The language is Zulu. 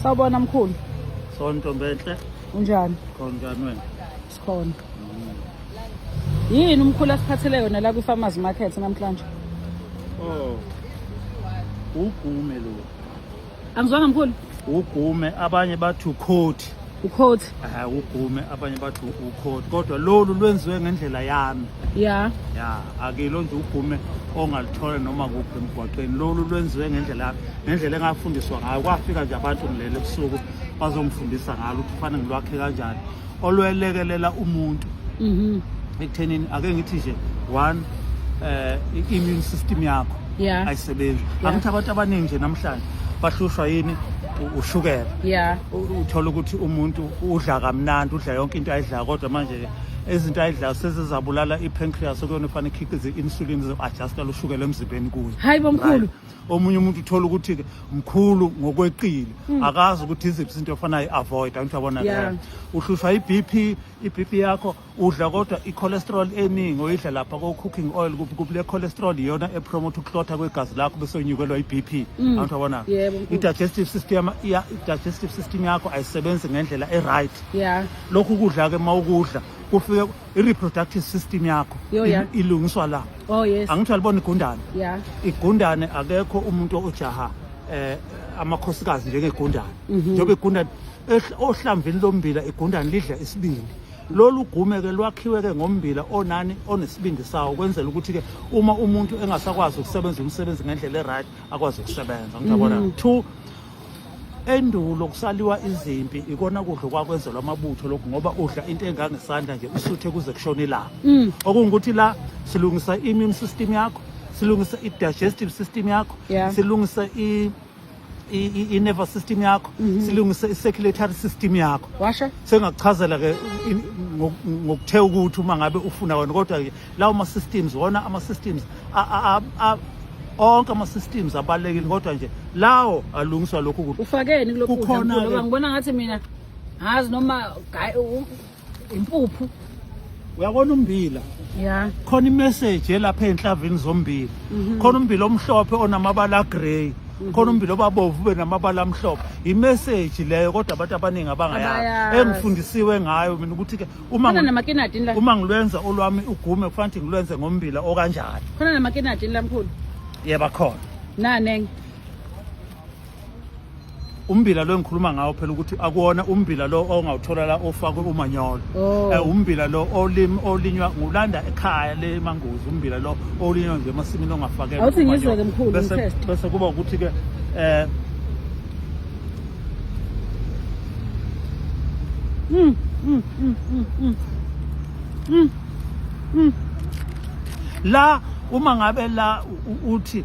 Sawubona mkhulu. Sawubona Ntombenhle. Unjani? Khonjani wena? Sikhona. Mm. Yini umkhulu asiphathele yona la kwi farmers market namhlanje? Oh. Ugume lo. Angizwanga mkhulu. Ugume abanye bathi ukhothi. ukhoti eh ugume abanye bathi ukhoti kodwa lolu lwenziwe ngendlela yami ya ya akilo nje ugume ongalithola noma kuphi emgwaqeni lolu lwenziwe ngendlela yami ngendlela engafundiswa ngayo kwafika nje abantu ngilele ebusuku bazongifundisa ngalo ukuthi kufanele ngilwakhe kanjani olwelekelela umuntu mhm ekuthenini ake ngithi nje one eh immune system yakho ayisebenzi angithi abantu abaningi nje namhlanje bahlushwa yini ushukela yeah uthola ukuthi umuntu udla kamnandi udla yonke into ayidlayo kodwa manje izinto ayidlayo sezizabulala i-pancreas okuyona efanele ikhiqize i-insulin izo-adjusta lushukela emzimbeni kuyo hayi bomkhulu omunye umuntu uthola ukuthi-ke mkhulu ngokweqile hmm. akazi ukuthi iziphi izinto efanayo i-avoid angithi yabona yeah. uhlushwa i-b p i-b p yakho udla kodwa i-cholesterol eningi oyidla lapha ko-cooking oil kuphi kuphi le cholesterol iyona epromote ukuhlotha kwegazi lakho bese unyukelwa i-b p mm. abantu abona i-digestive system i-digestive system yakho ayisebenzi ngendlela e-right lokhu ukudla-ke uma ukudla kufike i-reproductive system yakho ilungiswa la oh, angithi alibona igundane igundane akekho umuntu ojaha eh amakhosikazi njengegundane mhm. njengoba igundane ohlamvini lombila igundane lidla isibindi lolu gume-ke lwakhiwe-ke ngombila onani onesibindi sawo kwenzela ukuthi-ke uma umuntu engasakwazi ukusebenza umsebenzi ngendlela e-right akwazi ukusebenza ngiyabona mm. two endulo kusaliwa izimpi ikona kudla kwakwenzelwa amabutho lokhu ngoba udla into engangesandla nje usuthe kuze kushona ilanga mm. okungukuthi la silungisa i-immune system yakho silungisa i-digestive system yakho silungisa i-nervous system yakho mhm. silungise i-circulatory system yakho washo sengakuchazela ke ngokuthe ukuthi uma ngabe ufuna wena kodwa ke lawo ma-systems wona ama-systems onke ama-systems abalulekile kodwa nje lawo alungiswa lokhu kukhona ngibona ngathi mina ngazi noma impuphu uyabona umbila ya khona imessage elapha enhlavini zombili mhm. khona umbila omhlophe onamabala agrey mhm. khona umbila obabovu ube namabala amhlophe imessage leyo kodwa abantu abaningi abangayazi engifundisiwe ngayo mina ukuthi ke uma uma ngilwenza olwami ugume kufanele ngilwenze ngombila okanjani khona namakinati lamkhulu yeba khona nanenge umbila lo engikhuluma ngawo phela ukuthi akuwona umbila lo ongawuthola la ofakwe umanyolo oh. eh, umbila lo olim olinywa ngulanda ekhaya le mangozi umbila lo olinywa nje emasimini ongafakelwa awuthi ngizwe ke mkhulu bese bese kuba ukuthi ke eh mm mm mm mm mm, mm. mm. la uma ngabe la uthi